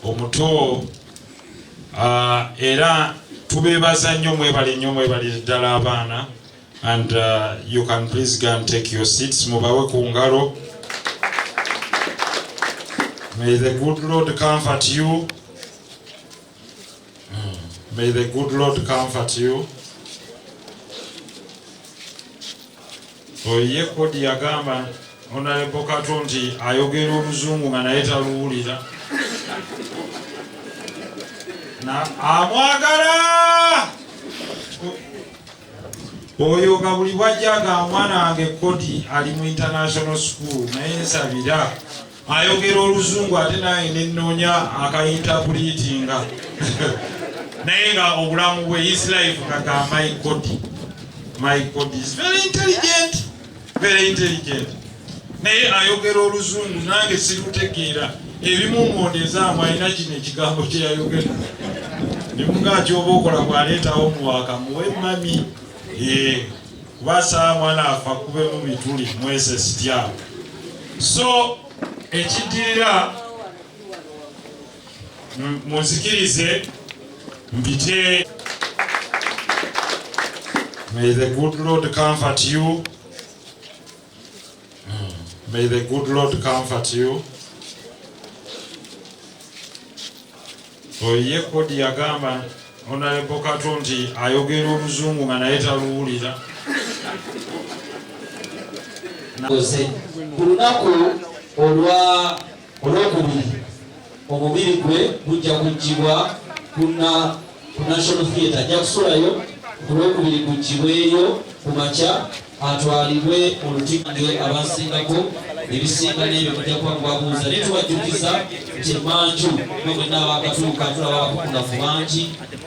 omuto uh, era tubebaza nnyo mwebale nnyo mwebale ddala abaana and uh, you can please go and take your seats mubawe ku ngalo may the good lord comfort you Hmm. May the good Lord comfort you. Oye kodi yagamba Honorable Kato nti ayogera oluzungu nga naye taluwulira. Na amwagala. Oyo nga buli bwajja nga mwana wange kodi ali mu international school naye nsabira. ayogera oluzungu ate naye nenoonya akayintapuliitinga naye nga obulamu bwe his life kaga my god my god is very intelligent very intelligent naye ayogera oluzungu nange sirutegeera ebimu ngondeezaamu alina kino ekigambo kyeyayogera nemunga kyoba okola bwaleetawo muwaka muwe mami ee eh. kuba saa mwana afa kube mu bituli mwese sitya so ekiddirira munzikirize mpite may the good lord comfort you Hmm. May the good Lord comfort you. Oye kodi yagamba Honorable Kato nti ayogera oluzungu nga naye taluwulira. Ku lunaku olwa Ku Lwokubiri, omubiri gwe gujja kuggyibwa ku National Theatre. Ajja kusulayo ku Lwokubiri guggyibweyo ku makya atwalibwe mu lutikko abasingako ebisinga n'ebyo mujja kuba mubabuuza naye tubajjukiza nti emanju mwe mwenna abakatuuka tulaba abakukunafu bangi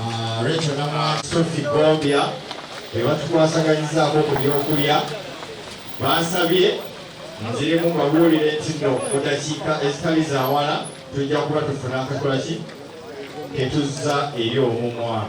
Ah, Rachel Namwaki, Sophie Gombya be batukwasaganyizaako ku byokulya bansabye nziremu mbabuulire nti no mu dakiika ezitali za wala tujja kuba tufuna akakola ki ketuzza eri omumwa